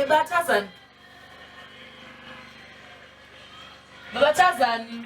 Batazani. Batazani.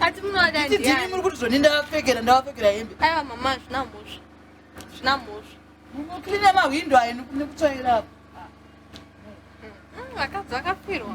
Ati munoda ndiani? Ndini muri kuti zvoni ndavapfekera ndavapfekera hembe. Aiwa mama zvina mhosva. Zvina mhosva. Munoklina mahwindo ayo nekutsvaira apo. Mm, vakadzi vakafirwa.